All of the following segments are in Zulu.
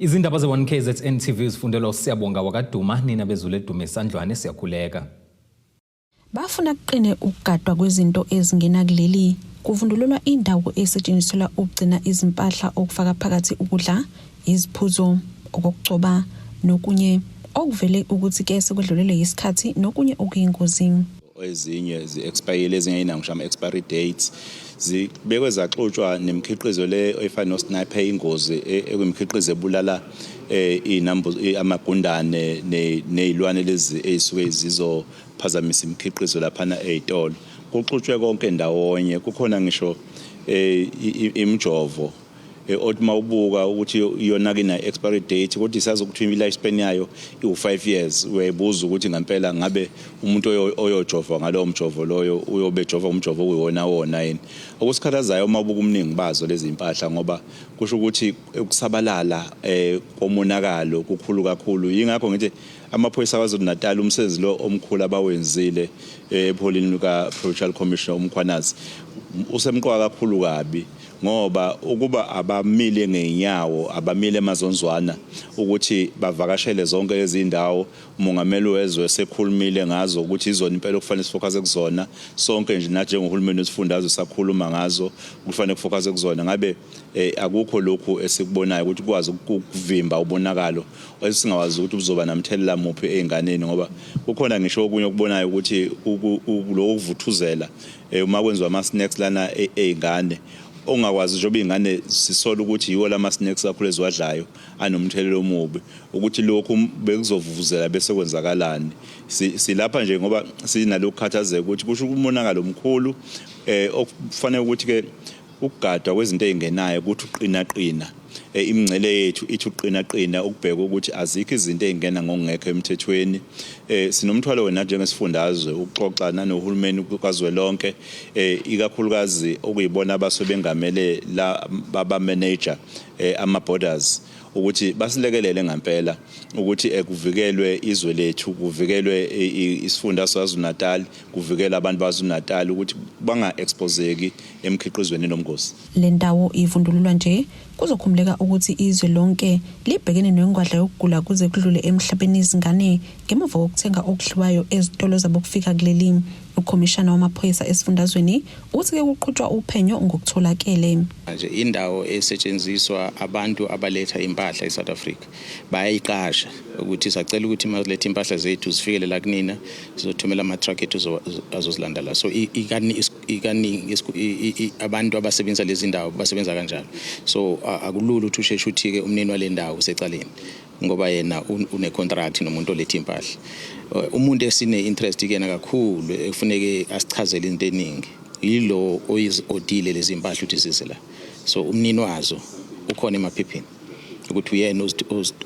Izindaba ze-1KZN TV zifundelwa uSiyabonga wakwaDuma, nina bezulu edume isandlwane siyakhuleka. Bafuna kuqine ukugadwa kwezinto ezingena kuleli kuvundululwa indawo esetshenziselwa ukugcina izimpahla okufaka phakathi ukudla, iziphuzo, okokugcoba nokunye okuvele ukuthi ke sekwedlulelwe yisikhathi nokunye okuyingozi. ezinye zi-expayile ezinye ayinawo ngisho ama-expiry dates zibekwe zaxutshwa nemikhiqizo le efana nosniper ingozi e- ekwimikhiqizo ebulala eh, iy'nambu- i- amagundane ne- ney'lwane lezi ey'suke zizophazamisa imikhiqizo laphana ey'tolo kuxutshwe konke ndawonye kukhona ngisho eh, i- i- imijovo Othi uma ubuka ukuthi iyonake ina-expiry date kodwa isazi ukuthi i-life span yayo iwu-five years uyayibuza ukuthi ngampela ngabe umuntu oyojova ngalowo mjovo loyo uyobe ejova ngomjovo okuyiwona wona yini okusikhathazayo uma ubuka umningi bazo lezi mpahla ngoba kusho ukuthi ukusabalala um komonakalo kukhulu kakhulu yingakho ngithi amaphoyisa kwazulu natal umsebenzi lo omkhulu abawenzile eh, epholini lika-provincial commissioner umkhwanazi usemqoka kakhulu kabi ngoba ukuba abamile ngeenyawo abamile emazonzwana ukuthi bavakashele zonke lezi ndawo umongameli wezwe sekhulumile ngazo ukuthi izona impela okufanele sifokhase kuzona sonke nje nathi njengohulumeni wesifundazwe sakhuluma ngazo kufanele kufokhase kuzona ngabe eh, akukho lokhu esikubonayo ukuthi kwazi ukuvimba ubonakalo esingawazi ukuthi buzoba namthelela muphi ezinganeni ngoba kukhona ngisho okunye okubonayo ukuthi lokho kuvuthuzela eh, uma kwenziwa ama-snacks lana e-, ey'ngane ongakwazi njengoba iy'ngane sisola ukuthi yiwo lama-snacks kakhulu eziwadlayo anomthelela omubi ukuthi lokhu bekuzovuvuzela bese kwenzakalani silapha nje ngoba sinalokhu khathazeka ukuthi kusho umonakalo omkhulu um okufanele ukuthi-ke Ukugadwa kwezinto ezingenayo ukuthi uqinaqina eh, imingcele yethu ithi uqinaqina ukubheka ukuthi azikho izinto ezingena ngokungekho emthethweni. Eh, sinomthwalo wena njengesifundazwe ukuxoxa nanohulumeni kazwelonke eh, ikakhulukazi okuyibona abasuke bengamele la baba manager ama borders ukuthi basilekelele ngempela ukuthi ekuvikelwe izwe lethu kuvikelwe isifunda saZulu-Natal kuvikela abantu baKwaZulu-Natal ukuthi banga-ekspozeki emikhiqizweni enobungozi. Le ndawo ivundululwa nje, kuzokhumuleka ukuthi izwe lonke libhekene nengwadla yokugula kuze kudlule emhlabeni izingane ngemuva kokuthenga okudliwayo ezitolo zabokufika kuleli. Ukhomishana wamaphoyisa esifundazweni uthi ke kuqhutshwa uphenyo ngokutholakele. Manje indawo esetshenziswa abantu abaletha impahla eSouth Africa bayayiqasha ukuthi sacela ukuthi maziletha impahla zethu zifikele la kunina sizothumela ama-truck ethu zo- zo- azozilanda la so i- ikani- is- ikaningi isku- i- i- i- abantu abasebenzisa lezi ndawo basebenza kanjalo so a- akulula ukuthi usheshe uthike umnini wale ndawo usecaleni ngoba yena un- unecontract nomuntu oletha impahla Eh, umuntu esine-interest kuyena kakhulu ekufuneke asichazele into eningi yilo oyizi-odile lezi mpahla ukuthi zize la so umnini wazo ukhona emaphepheni ukuthi uyena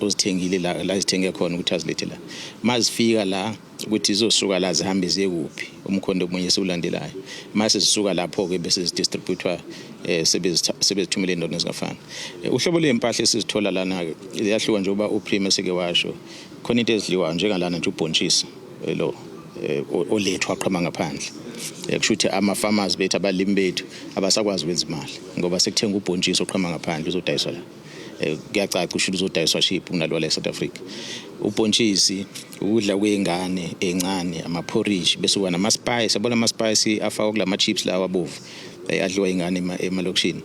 ozithengile la la zithenge khona ukuthi azilethe la mazifika la ukuthi zizosuka la zihambe ziye kuphi umkhondo omunye siwulandelayo mase zisuka lapho ke bese zidistributwa eh, sebezithumele endodeni ezingafani eh, uhlobo lwempahla esizithola lana ke ziyahluka njengoba uprime seke washo khona into ezidliwayo njengalana nje ubhontshisi lo eh, olethwa qhama ngaphandle eh, kusho ukuthi ama-farmers bethu abalimi bethu abasakwazi ukwenza imali ngoba sekuthenga ubhontshisi oqhama ngaphandle uzodayiswa la eh, kuyacaca usho ukuthi uzodayiswa ship kunalowa la e-south africa ubhontshisi ukudla kwey'ngane ey'ncane amaphorishi bese kuba namaspayisi abona amaspayisi afakwa kula ma-chips lawa abovu adliwa iy'ngane emalokishini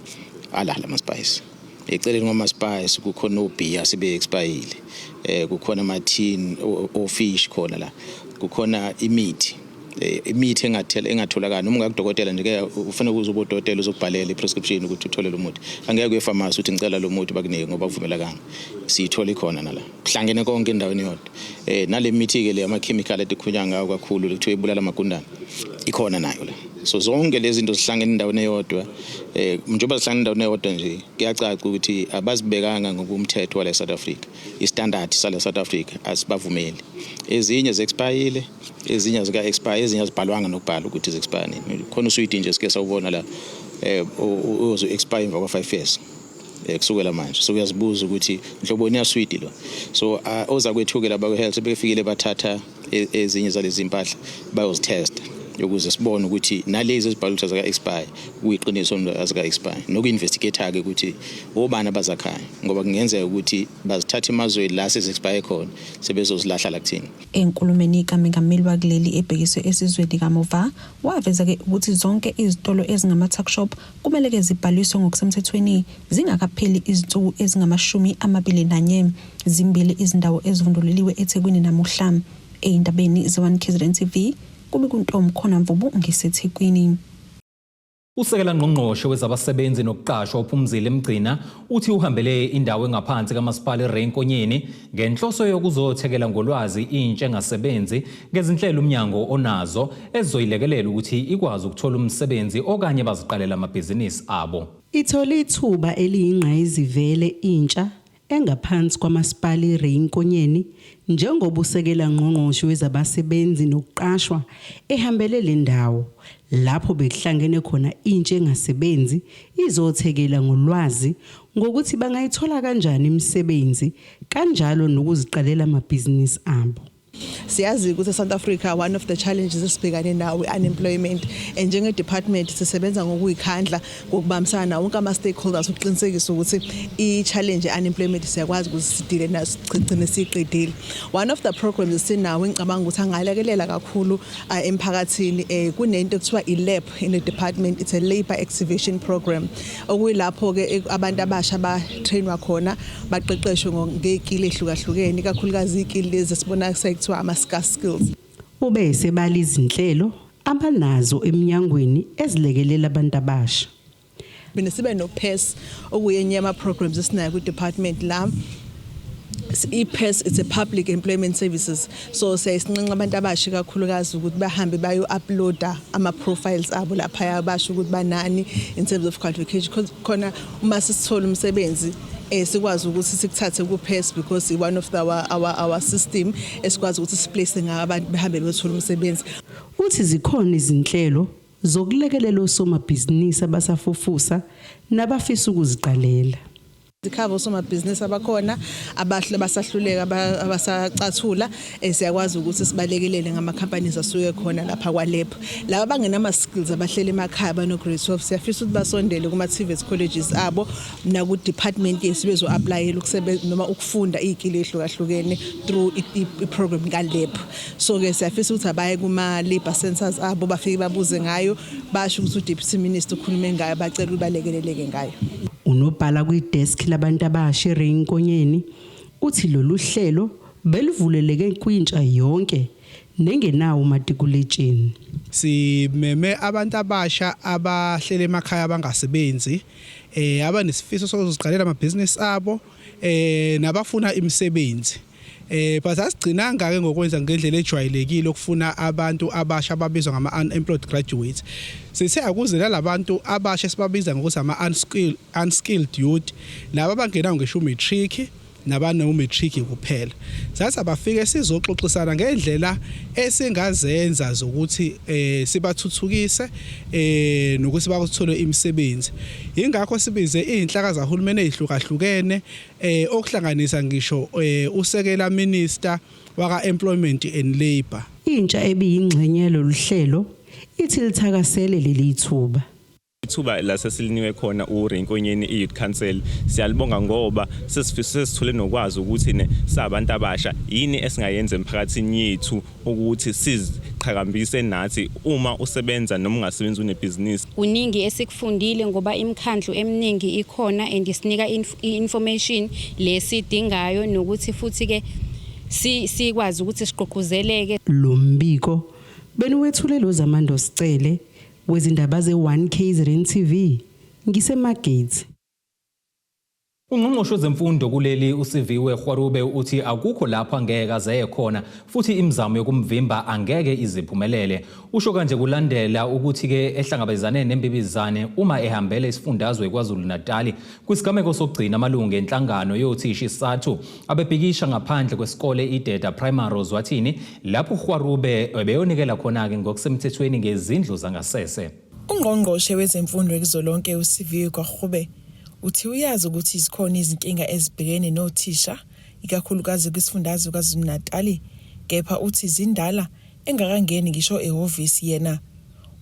alala amaspayisi eceleni kwamaspice kukhona obhiya asebe-expayile um kukhona amathini ofish khona la kukhona imithi Eh, imithi engathela engatholakala noma ungakudokotela nje ke ufanele uze ubodokotela uzokubhalela i-prescription ukuthi uthole lo muthi angeke uye pharmacy uthi ngicela lo muthi bakunike ngoba kuvumelakanga siyithole khona nala kuhlangene konke endaweni yodwa eh nale mithi ke le ama chemical etikhunya ngawo kakhulu kuthiwa ibulala amagundana ikhona nayo la so zonke lezi zinto zihlangene endaweni eyodwa eh njengoba zihlangene endaweni eyodwa nje kuyacaca ukuthi abazibekanga ngokumthetho wale South Africa istandard sale South Africa asibavumeli ezinye zexpayile ezinye zika expire ezinye azibhalwanga nokubhala ukuthi zexpire nini khona usuyidi nje sike sawubona la eh uzo expire emva kwa 5 years Eh, kusukela manje so uyazibuza ukuthi nhloboni yaswidi lo so uh, oza kwethuke laba kwe-health sebefikile bathatha e, ezinye zalezi mpahla bayozithesta ukuze sibone ukuthi nalezi ezibhala ukuthi azika-expire kuyiqiniso azika-expire noku-investigate-ke ukuthi obani abazakhayo ngoba kungenzeka ukuthi bazithatha emazweni la sezi-expire khona sebezozilahla la kuthina enkulumeni kamengameli wakuleli ebhekiswe esizweni kamuva waveza-ke ukuthi zonke izitolo ezingama-tuckshop kumele ke zibhaliswe ngokusemthethweni zingakapheli izinsuku ezingamashumi amabili nanye zimbili izindawo ezivundululiwe eThekwini namuhla eyindabeni ze-1 KZN TV kube kuntom khona mvubu ngisethekwini Usekela ngqongqoshe wezabasebenzi nokuqashwa uPhumzile Mgcina Uthi uhambele indawo engaphansi kaMasipala iRay Nkonyeni ngenhloso yokuzothekela ngolwazi intsha engasebenzi ngezinhlelo umnyango onazo ezizoyilekelela ukuthi ikwazi ukuthola umsebenzi okanye baziqalela amabhizinisi abo. Ithole ithuba eliyingqayizivele intsha engaphansi kwaMasipala iRay Nkonyeni njengoba usekela ngqongqoshe wezabasebenzi nokuqashwa ehambele le ndawo lapho bekuhlangene khona intsha engasebenzi izothekela ngolwazi ngokuthi bangayithola kanjani imisebenzi kanjalo nokuziqalela amabhizinisi abo siyazi ukuthi eSouth Africa one of the challenges esibhekane nawo i-unemployment and njenge-department sisebenza ngokuyikhandla ngokubambisana nawo wonke ama-stakeholders ukuqinisekisa ukuthi i-challenge ye-unemployment siyakwazi ukuthi sidile nayo sigcine siyiqedile one of the programs esinawo engicabanga ukuthi angalekelela kakhulu uh, emphakathini um kunento ekuthiwa i-lab in the department it's a labour activation program okuyilapho-ke e, abantu abasha batrainwa khona baqeqeshwe ngey'kili ehlukahlukene ikakhulukazi iy'kili lezi esibona sekuthiwa ama-scar skills ube esebala izinhlelo abanazo eminyangweni ezilekelela abantu abasha mina sibe no PES okuyenye ama programs esinayo ku department la i-PES it's a public employment services so siyayisinqenxa abantu abasha kakhulukazi ukuthi bahambe bayo-uploada ama-profiles abo laphaya basho ukuthi banani in terms of qualification khona uma sisithola umsebenzi eh sikwazi ukuthi sikuthathe ku PES because one of our our our system esikwazi ukuthi siplace ngabantu behambe beyothola umsebenzi Uthi zikhona izinhlelo zokulekelela osomabhizinisi abasafufusa nabafisa ukuziqalela. Sikhava osomabhizinisi abakhona abasahluleka abasacathula eh, siyakwazi ukuthi sibalekelele ngama-companies asuke khona lapha kwalebho laba abangenama-skills abahlele emakhaya bano-grade 12 siyafisa ukuthi basondele kuma-tvets colleges abo naku-department yethu bezo-aplayela noma ukufunda iy'kili ey'hlukahlukene through i-program kalebho so ke siyafisa ukuthi abaye kuma-labour centers abo bafike babuze ngayo basho ukuthi udeputy minister ukhulume ngayo bacela ukuthi balekeleleke ngayo unobhala kwideski labantu abasha ereyinkonyeni uthi lolu hlelo belivuleleke kwintsha yonke nengenawo umatikuletsheni simeme abantu abasha abahlele emakhaya abangasebenzi eh abanesifiso sokuziqalela amabhizinisi abo eh nabafuna imisebenzi Eh but asigcinanga ke ngokwenza ngendlela ejwayelekile okufuna abantu abasha ababizwa ngama unemployed graduates. Sithe akuze labantu abasha sibabiza ngokuthi ama unskilled unskilled youth laba bangenawo ngisho matric nabane umatric kuphela. Sathi abafike sizoxoxisana ngendlela esingazenza zokuthi eh sibathuthukise eh nokuthi bakuthole imisebenzi. Ingakho sibize izinhlaka zahulumeni ezihlukahlukene eh okuhlanganisa ngisho eh, usekela minister waka employment and labor intsha ebiyingxenye yalolu hlelo ithi lithakasele leli thuba ithuba lasesiliniwe khona uRenkonyeni iYouth Council siyalibonga ngoba sesifise sesithole nokwazi ukuthi ne sabantu abasha yini esingayenza emphakathini yethu ukuthi siziqhakambise nathi uma usebenza noma ungasebenzi unebhizinisi. Kuningi esikufundile ngoba imikhandlu eminingi ikhona and isinika i-information le sidingayo nokuthi futhi-ke sikwazi ukuthi sigqugquzeleke. Lo mbiko beniwethulelwe uZamando Sicele wezindaba ze-1 KZN TV. NgiseMargate. Ungqongqoshe wezemfundo kuleli uSiviwe Kgwarube uthi akukho lapho angeke azeye khona futhi imizamo yokumvimba angeke iziphumelele. Usho kanje kulandela ukuthi-ke ehlangabezane nembibizane uma ehambele isifundazwe KwaZulu-Natali kwisigameko sokugcina amalungu enhlangano yothishi sathu abebhikisha ngaphandle kwesikole iDeda Primary Ozwathini lapho uKgwarube ebeyonikela khona-ke ngokusemthethweni ngezindlu zangasese. UNgqongqoshe wezeMfundo kuzolonke uSiviwe Gwarube uthi uyazi ukuthi zikhona izinkinga ezibhekene nothisha ikakhulukazi kwisifundazwe KwaZulu-Natali kepha uthi zindala engakangeni ngisho ehhovisi yena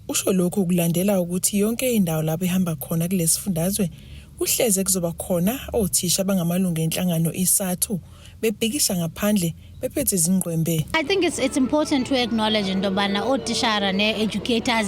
usho lokhu kulandela ukuthi yonke indawo lapho ehamba khona kulesi sifundazwe kuhleze kuzoba khona othisha abangamalungu enhlangano iSathu bebhikisha ngaphandle bephethe izingqwembe I think it's, it's important to acknowledge into yobana ootishara nee-educators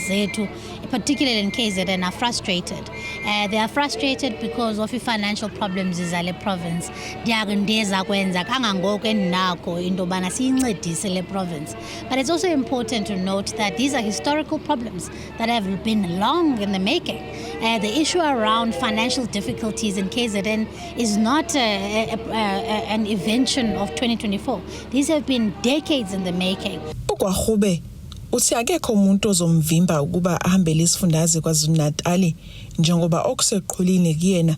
zethu particularly in KZN are frustrated uh, they are frustrated because of i-financial problems zale province ndiyaku ndiza kwenza kangangoko endinako into yobana siyincedise le province but it's also important to note that these are historical problems that have been long in the making. Uh, the issue around financial difficulties in KZN is not uh, a, a, a, an invention of 2024. These have been decades in the making. UKwahube uthi akekho umuntu ozomvimba ukuba ahambele isifundazwe KwaZulu-Natali njengoba okuseqhulini kuyena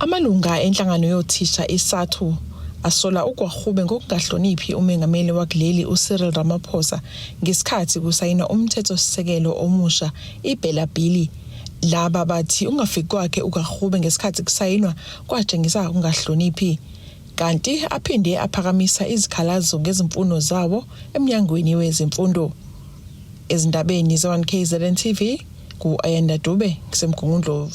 Amalunga enhlangano yothisha iSathu asola uGwarhube ngokungahloniphi umengameli wakuleli uCyril Ramaphosa ngesikhathi kusayinwa umthethosisekelo omusha iBhela Bhili Laba bathi ungafiki kwakhe uKarhube ngesikhathi kusayinwa kwatshengisa ukungahloniphi kanti aphinde aphakamisa izikhalazo ngezimfuno zawo eMnyangweni weZemfundo. Ezindabeni ze-1KZN TV, ku-Ayanda Dube, ngisemGungundlovu.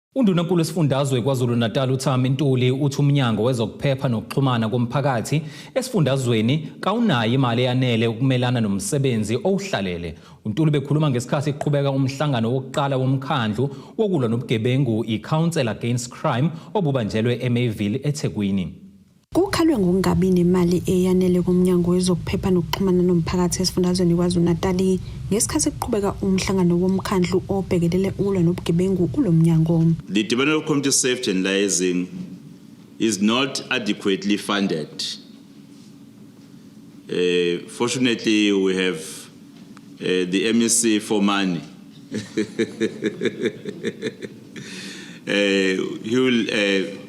UNdunankulu wesifundazwe KwaZulu-Natal uThami Ntuli uthi umnyango wezokuphepha nokuxhumana komphakathi esifundazweni kawunayo imali eyanele ukumelana nomsebenzi owuhlalele. UNtuli bekhuluma ngesikhathi kuqhubeka umhlangano wokuqala womkhandlu wokulwa nobugebengu i-Council Against Crime obubanjelwe eMayville eThekwini. Kukhalwe ngokungabi nemali eyanele koMnyango wezokuPhepha nokuXhumana noMphakathi esifundazweni KwaZulu-Natali ngesikhathi kuqhubeka umhlangano womkhandlu obhekelele ukulwa nobugebengu kulo mnyango. The Department of Community Safety and Liaising is not adequately funded. Uh, fortunately, we have uh, the MEC for money. uh, he will uh,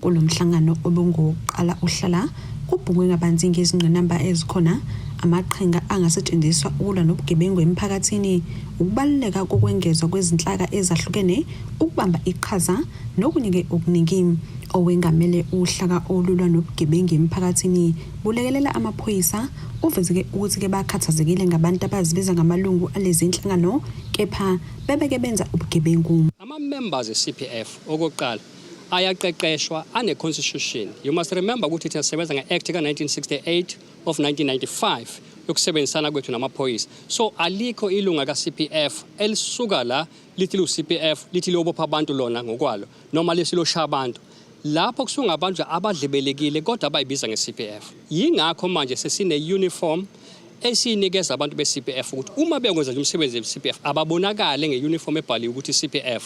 kulo mhlangano obungowokuqala uhlala kubhungwe kabanzi ngezingqinamba ezikhona amaqhinga angasetshenziswa ukulwa nobugebengu emphakathini ukubaluleka kokwengezwa kwezinhlaka ezahlukene ukubamba iqhaza nokunike okuningi owengamele uhlaka olulwa nobugebengu emphakathini bulekelela amaphoyisa uvezeke ukuthi ke bakhathazekile ngabantu abazibiza ngamalungu alezi nhlangano kepha bebeke benza ubugebengu ama-members e-cpf okokuqala ayaqeqeshwa ane-constitution you must remember ukuthi thina sisebenza nge-act ka-1968 of 1995 yokusebenzisana kwethu namaphoyisa so alikho ilunga ka-cpf elisuka la lithi liwu-cpf lithi liyobopha abantu lona ngokwalo noma lesiloshaya abantu lapho kusungabantu abadlebelekile kodwa abayibiza nge-cpf yingakho manje sesine-uniform esiyinikeza abantu be-CPF ukuthi uma bekwenza umsebenzi we-CPF ababonakale nge-uniform ebhaliwe ukuthi CPF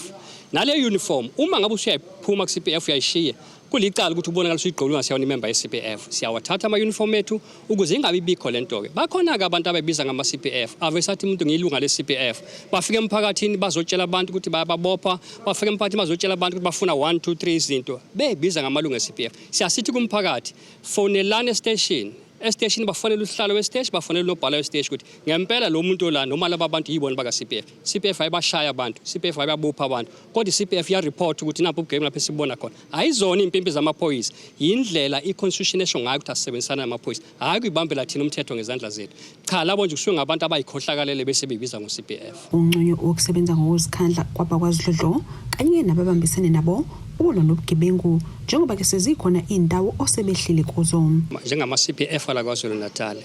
nale uniform uma ngabe usuyayiphuma ku-CPF uyayishiya kulicala ukuthi ubonakala usuyigqoke ungasiyona imemba ye-CPF siyawathatha ama-uniform ethu ukuze ingabi bikho le nto-ke bakhona-ke abantu abayibiza ngama-CPF avesathi umuntu ngiyilunga le-CPF bafike emphakathini bazotshela abantu ukuthi bayababopha bafike emphakathini bazotshela abantu ukuthi bafuna 1 2 3 izinto beyibiza ngamalungu e-CPF siyasithi kumphakathi fonelani esiteshini esiteshini bafonela usihlalo wesiteshi bafonela unobhala wesiteshi ukuthi ngempela lo muntu olana noma laba bantu yibona baka-cpf cpf ayibashaya abantu cpf ayibabopha abantu kodwa i-cpf iyaripotha ukuthi napho ubugame lapho esibona khona ayizona iy'mpimpi zamaphoyisa yindlela i-constitution esho ngayo ukuthi asisebenzisana namaphoyisa hhayi kuyibambela thina umthetho ngezandla zethu cha labo nje kusuke ngabantu abayikhohlakalele bese beyibiza ngo-cpf unqunywe ukusebenza ngokuzikhandla kwabakwasidlodlo kanye nababambisene nabo ukulwa nobugebengu njengoba ke sezikhona izindawo osebehlile kuzo njengama CPF ala KwaZulu-Natal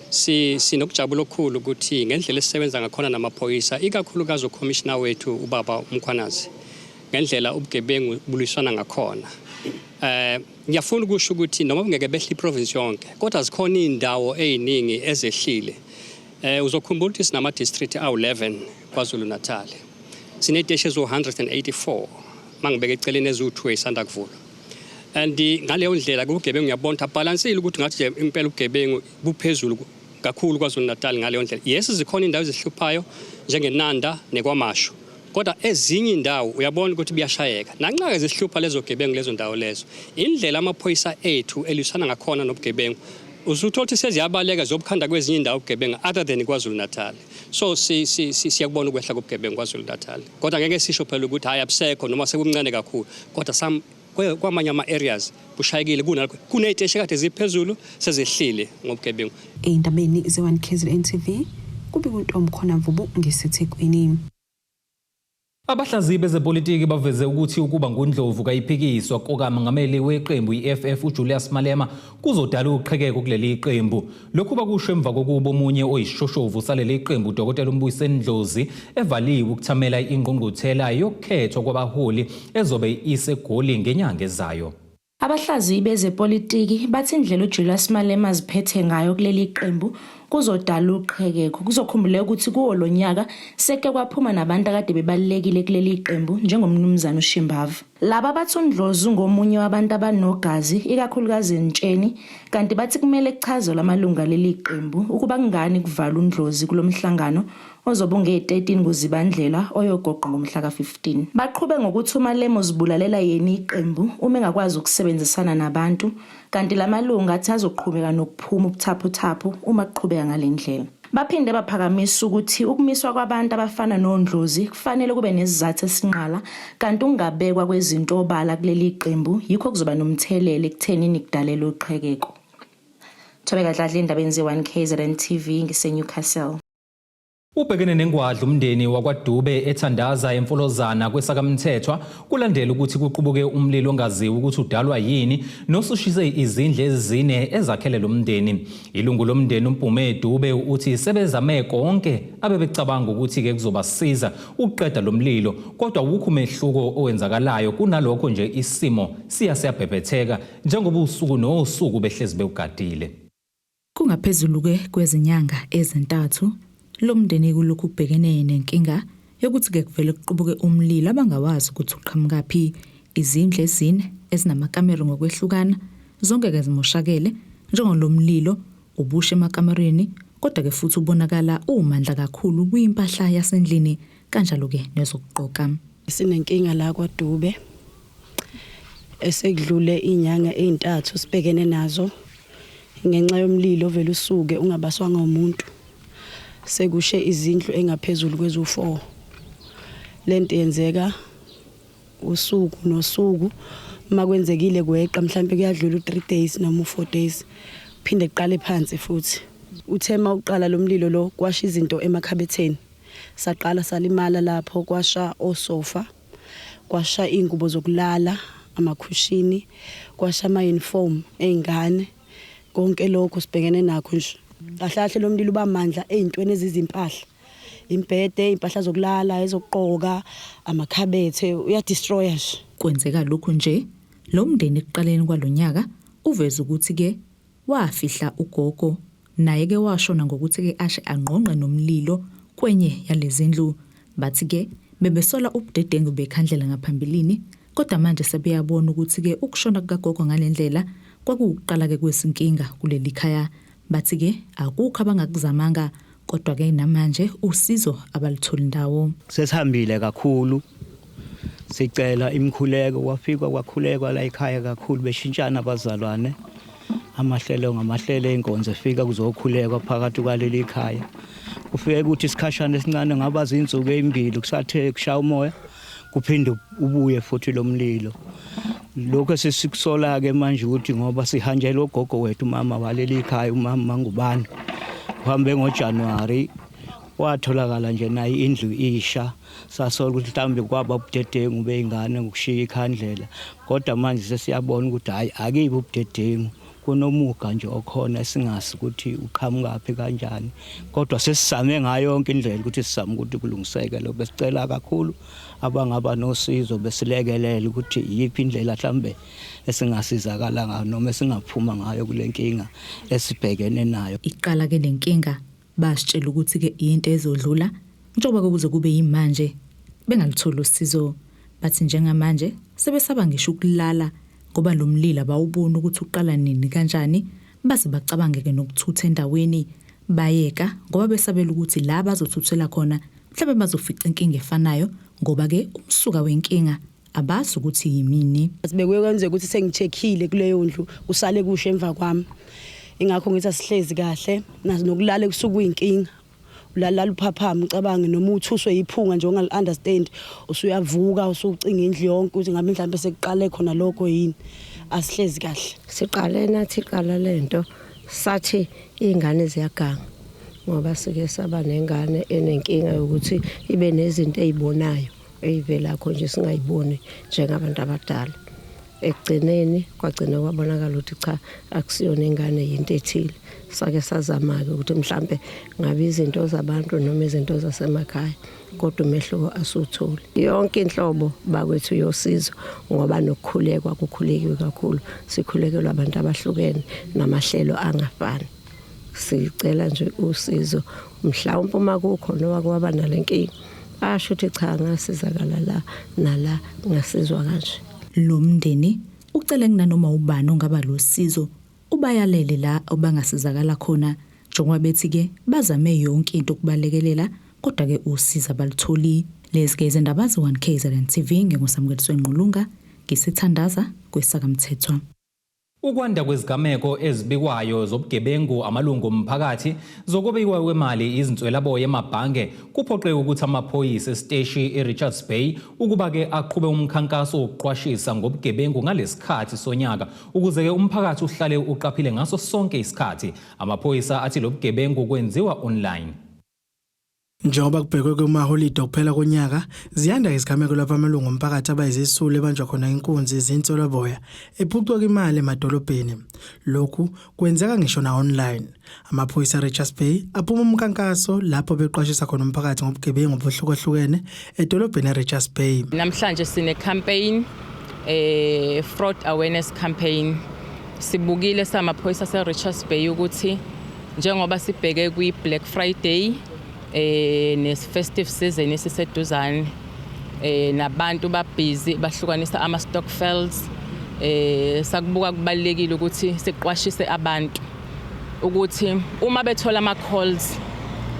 si sinokujabula okukhulu ukuthi ngendlela esisebenza ngakhona namaphoyisa ikakhulukazi ukhomishina wethu ubaba uMkhwanazi ngendlela ubugebengu bulwisana ngakhona eh ngiyafuna ukusho ukuthi noma kungeke behle iprovince yonke kodwa zikhona izindawo eziningi ezehlile Eh uzokhumbula ukuthi sinama district awu11 KwaZulu Natal. Sineteshi ezo184 mangibeke eceleni eziwu2 esanda kuvulwa. And ngaleyo ndlela kugebengu ngiyabona balansile ukuthi ngathi nje impela ugebengu buphezulu kakhulu KwaZulu Natal ngaleyo ndlela. Yes zikhona indawo ezihluphayo njengeNanda nekwaMashu. kodwa ezinye indawo uyabona ukuthi buyashayeka nanxa-ke zihlupha lezo gebengu lezo ndawo lezo indlela amaphoyisa ethu elisana ngakhona nobugebengu usuthola ukuthi seziyabaleka zobukhanda kwezinye indawo ubugebengu other than kwazulu natal so siyakubona si, si, ukwehla kobugebengu kwazulu natal kodwa ngeke sisho phela ukuthi hhayi abusekho noma sekumncane kakhulu kodwa kwamanye ama-areas kushayekile kunalokho kuney'teshi kade ziphezulu sezehlile ngobugebengu ey'ndabeni ze-1 kzn tv kubika untom khona mvubu ngisethekwini Abahlaziyi bezepolitiki baveze ukuthi ukuba nguNdlovu kayiphikiswa kokamengameli weqembu i-EFF uJulius Malema kuzodala uqhekeko kuleli qembu lokhu bakusho emva kokuba omunye oyisishoshovu saleli qembu udokotela umbuyiseni ndlozi evaliwe ukuthamela ingqungquthela yokukhethwa kwabaholi ezobe isegoli ngenyanga ezayo Abahlaziyi bezepolitiki bathi indlela uJulius Malema aziphethe ngayo kuleli qembu kuzodala uqhekeko. Kuzokhumbuleka ukuthi kuwo lo nyaka seke kwaphuma nabantu akade bebalulekile kuleli qembu njengomnumzane uShimbava. Laba bathi uNdlozi ungomunye wabantu abanogazi ikakhulukazi entsheni kanti bathi kumele kuchazelwe amalungu aleli qembu ukuba kungani kuvala uNdlozi kulo mhlangano ozobe unge-13 kuZibandlela oyogoqwa ngomhla ka-15. Baqhube ngokuthi uMalema uzibulalela yena iqembu uma engakwazi ukusebenzisana nabantu kanti la malungu athi azoqhubeka nokuphuma ubuthaphuthaphu uma kuqhubeka ngale ndlela. Baphinde baphakamisa ukuthi ukumiswa kwabantu abafana nondlozi kufanele kube nesizathu esinqala kanti ukungabekwa kwezinto obala kuleli qembu yikho kuzoba nomthelela ekuthenini kudalelwe uqhekeko. Thobeka Dladla endabeni ze-1 KZN TV ngiseNewcastle. Ubhekene nengwadla umndeni wakwaDube ethandaza emfolozana kwesakamthethwa kulandela ukuthi kuqubuke umlilo ongaziwa ukuthi udalwa yini nosushise izindle ezine ezakhele lo mndeni. Ilungu lomndeni uMpume Dube uthi sebezame konke abebecabanga ukuthi-ke kuzobasiza ukuqeda lo mlilo kodwa wukho umehluko owenzakalayo kunalokho nje isimo siya siyabhebhetheka njengoba usuku nosuku behlezi bewugadile. Kungaphezulu-ke kwezinyanga ezintathu lo mndeni kulokhu ubhekene nenkinga yokuthi-ke kuvele kuqubuke umlilo abangawazi ukuthi uqhamukaphi. Izindlu ezine ezinamakamero ngokwehlukana zonke-ke zimoshakele njengoba lo mlilo ubushe emakamereni kodwa-ke futhi ubonakala uwumandla kakhulu kwimpahla yasendlini kanjalo-ke nezokugqoka. Sinenkinga la kwaDube esekudlule inyanga ezintathu sibhekene nazo ngenxa yomlilo ovele usuke ungabaswanga umuntu sekushe izindlu engaphezulu kwezu-4 lento yenzeka usuku nosuku uma kwenzekile kweqa mhlawumbe kuyadlula u-3 days noma u-4 days phinde kuqale phansi futhi uthe uma uqala lo mlilo lo kwasha izinto emakhabetheni Saqala salimala lapho kwasha osofa, kwasha iy'ngubo zokulala, amakhushini, kwasha ama-uniform ey'ngane. Konke lokho sibhekene nakho nje. Kahle kahle lo mlilo uba mandla ey'ntweni ezizimpahla. Imbhede, iy'mpahla zokulala, ezokugqoka, amakhabethe, uyadistroya nje. Kwenzeka lokhu nje, lo mndeni ekuqaleni kwalo nyaka uveze ukuthi ke wafihla ugogo Naye ke washo nangokuthi ke ashe angqongqe nomlilo kwenye yalezindlu. Bathi ke bebesola ubudedengu bekhandlela ngaphambilini kodwa manje sebeyabona ukuthi ke ukushona kukagogo ngalendlela kwakuwukuqala ke kwezinkinga kulelikhaya. Bathi ke akukho abangakuzamanga kodwa ke namanje usizo abalutholi ndawo. Sesihambile kakhulu sicela imikhuleko kwafikwa kwakhulekwa la ekhaya kakhulu beshintshana abazalwane amahlelo ngamahlelo enkonzo efika kuzokhulekwa phakathi kwaleli khaya kufike ukuthi isikhashana esincane ngaba zinsuku ezimbili kusathe kushaya umoya kuphinde ubuye futhi lo mlilo lokho sesikusola-ke manje ukuthi ngoba sihanjelwe ugogo wethu umama waleli khaya umama mangubane uhambe ngojanuwari watholakala nje naye indlu isha Sasola ukuthi mhlawumbe kwaba ubudedengu bey'ngane ngokushiya ikhandlela kodwa manje sesiyabona ukuthi hhayi akibi ubudedengu kunomuga nje okhona esingazi ukuthi uqhamukaphi kanjani kodwa sesizame ngayo yonke indlela ukuthi sizame ukuthi kulungiseke lokho besicela kakhulu abangaba nosizo besilekelele ukuthi iyiphi indlela mhlambe esingasizakala ngayo noma esingaphuma ngayo kule nkinga esibhekene nayo iqala ke le nkinga Basitshela ukuthi-ke yinto ezodlula njengoba-ke kuze kube yimanje bengalutholi usizo. Bathi njengamanje sebesaba ngisho ukulala ngoba lo mlilo abawuboni ukuthi uqala nini kanjani baze bacabange-ke nokuthutha endaweni bayeka ngoba besabela ukuthi la bazothuthela khona mhlawumbe bazofica inkinga efanayo ngoba-ke umsuka wenkinga abazi ukuthi yimini Sibekwe kwenzeka ukuthi sengicheckile kuleyo ndlu kusale kusho emva kwami. Ingakho ngithi asihlezi kahle nazi nokulala kusuku kuyinkinga. Ulalala uphaphama ucabange noma uthuswe yiphunga nje ongal understand usuyavuka usucinga indlu yonke ukuthi ngabe mhlawumbe sekuqale khona lokho yini. Asihlezi kahle. siqale nathi iqala lento sathi ingane ziyaganga ngoba sike saba nengane enenkinga yokuthi ibe nezinto ezibonayo eyivelakho nje singayiboni njengabantu abadala ekugcineni kwagcina kwabonakala ukuthi cha akusiyona ingane yinto ethile sake sazama-ke ukuthi mhlampe ngabe izinto zabantu noma izinto zasemakhaya kodwa umehluko asiwutholi yonke inhlobo bakwethu yosizo ngoba nokukhulekwa kukhulekiwe kakhulu sikhulekelwa abantu abahlukene namahlelo angafani sicela nje usizo mhlawumbe uma kukhona owake waba nalenkinga asho ukuthi cha ngasizakala la nala ngasizwa kanje lo mndeni ucele kunanoma ubani ongaba losizo ubayalele la obangasizakala khona njengoba bethi ke bazame yonke into ukubalekelela kodwa ke usiza balutholi lezi ke izindaba ze-1 KZN TV ngingusamukeliso engqulunga ngisithandaza kwesakamthethwa Ukwanda kwezigameko ezibikwayo zobugebengu, amalungu omphakathi, zokobiwa kwemali, izinswelaboya emabhange kuphoqe ukuthi amaphoyisa esiteshi eRichards Bay ukuba ke aqhube umkhankaso wokuqwashisa ngobugebengu ngalesikhathi sonyaka ukuze ke umphakathi uhlale uqaphile ngaso sonke isikhathi. Amaphoyisa athi lobugebengu kwenziwa online. Njengoba kubhekwe kumaholide okuphela konyaka, ziyanda izigameko lapho amalungu omphakathi abayizisulu ebanjwa khona inkunzi zintswelaboya ephucwa imali emadolobheni. Lokhu kwenzeka ngisho na-online. Amaphoyisa aRichards Bay aphuma umkankaso lapho beqwashisa khona umphakathi ngobugebengu obuhlukahlukene edolobheni eRichards Bay. Namhlanje sine-campaign, eh, fraud awareness campaign. Sibukile samaphoyisa aseRichards Bay ukuthi Njengoba sibheke kwi-Black Friday eh ne-festive season esiseduzane eh nabantu babhizi bahlukanisa ama-stockfels eh sakubuka kubalekile ukuthi siqwashise abantu ukuthi uma bethola ama-calls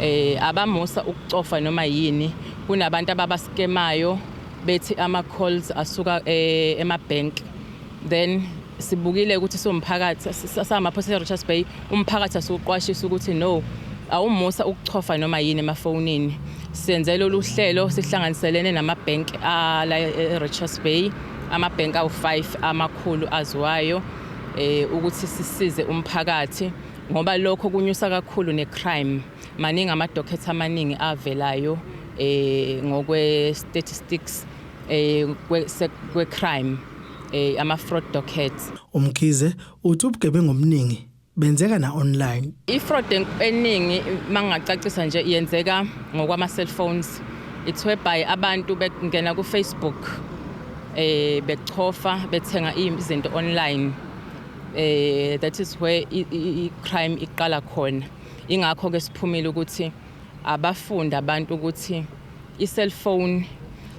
eh abamusa ukucofa noma yini kunabantu ababaskemayo bethi ama-calls asuka eh, ema-bank then Sibukile ukuthi siwumphakathi samaphoyisa e-Richards Bay, umphakathi asiwuqwashisa ukuthi no awumusa ukuchofa noma yini emafonini. Senze lolu hlelo sihlanganiselene namabhenki ala e-Richards Bay, amabhenki awu-5 amakhulu aziwayo um ukuthi sisize umphakathi ngoba lokho kunyusa kakhulu ne-crime. Maningi amadokhetha amaningi avelayo um ngokwe-statistics um kwe-crime. eh, ama-fraud dockets umkhize uthi ubugebengu obuningi benzeka na online i-fraud eningi mangingacacisa nje yenzeka ngokwama-cellphones it's whereby abantu bengena kufacebook eh bechofa bethenga izinto online eh that is where i-crime iqala khona ingakho ke siphumile ukuthi Abafunde abantu ukuthi i-cellphone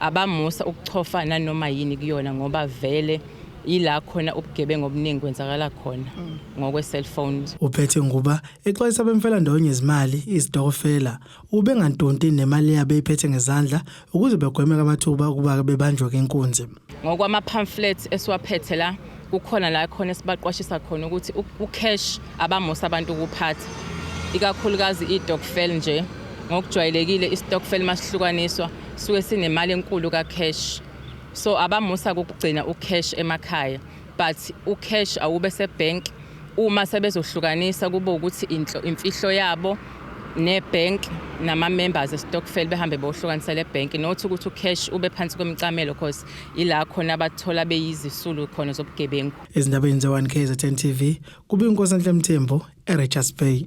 abamusa ukuchofa nanoma yini kuyona ngoba vele yila khona ubugebengu obuningi kwenzakala khona mm. ngokwe-cellphone. Uphethe nguba exwayisa abemfelandawonye izimali izitokofela ubengantunti nemali yabo eyiphethe ngezandla ukuze begweme amathuba ukuba bebanjwe kenkunzi ngokwama-pamphlets esiwaphethe la kukhona la khona esibaqwashisa khona ukuthi ucash abamusa abantu ukuphatha ikakhulukazi i-dokfel nje ngokujwayelekile i-stokfel masihlukaniswa suke sinemali enkulu ka-cash so abamusa kukugcina u-cash emakhaya but ucash awube sebank uma sebezohlukanisa kube ukuthi inhlo imfihlo yabo nebank nama members estokfel behambe bohlukanisa le bank nothi ukuthi ucash ube phansi kwemcamelo because ila khona abathola beyizisulu khona zobugebengu ezindabeni ze1 KZN TV kube inkosi enhle mthembu eRichards Bay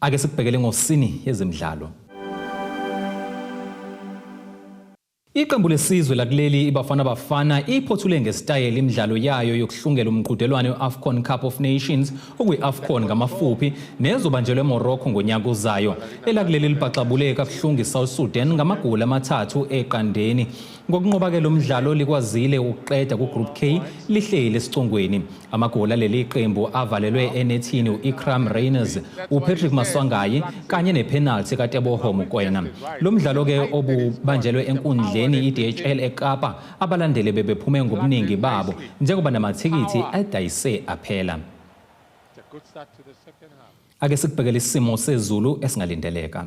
Ake sikubhekele ngosini yezemidlalo. Iqembu lesizwe lakuleli iBafana Bafana iphothule ngesitayela imidlalo yayo yokuhlungela umqhudelwano we-AFCON Cup of Nations okuyi-AFCON ngamafuphi nezobanjelwa eMorocco ngonyaka ozayo. Elakuleli libhaxabule kabuhlungu iSouth Sudan ngamagoli amathathu eqandeni. Ngokunqoba-ke lo mdlalo likwazile ukuqeda kuGroup K lihleli esicongweni. Amagoli aleli qembu avalelwe enethini u-Ikram Rayners, uPatrick Maswangayi kanye nephenalthi kaTeboho Mokoena. Lo mdlalo-ke obubanjelwe enkundleni i-DHL eKapa, abalandeli bebephume ngobuningi babo njengoba namathikithi adayise aphela. Ake sikubhekele isimo sezulu esingalindeleka.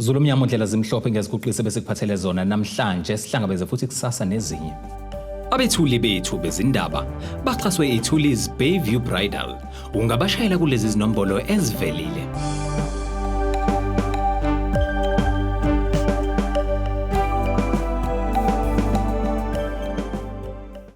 Zulu mnyama undlela zimhlophe ngeziguqise bese kuphathele zona namhlanje sihlangabeze futhi kusasa nezinye. Abethuli bethu bezindaba baxhaswe iThuli's Bayview Bridal. Ungabashayela kulezi zinombolo ezivelile.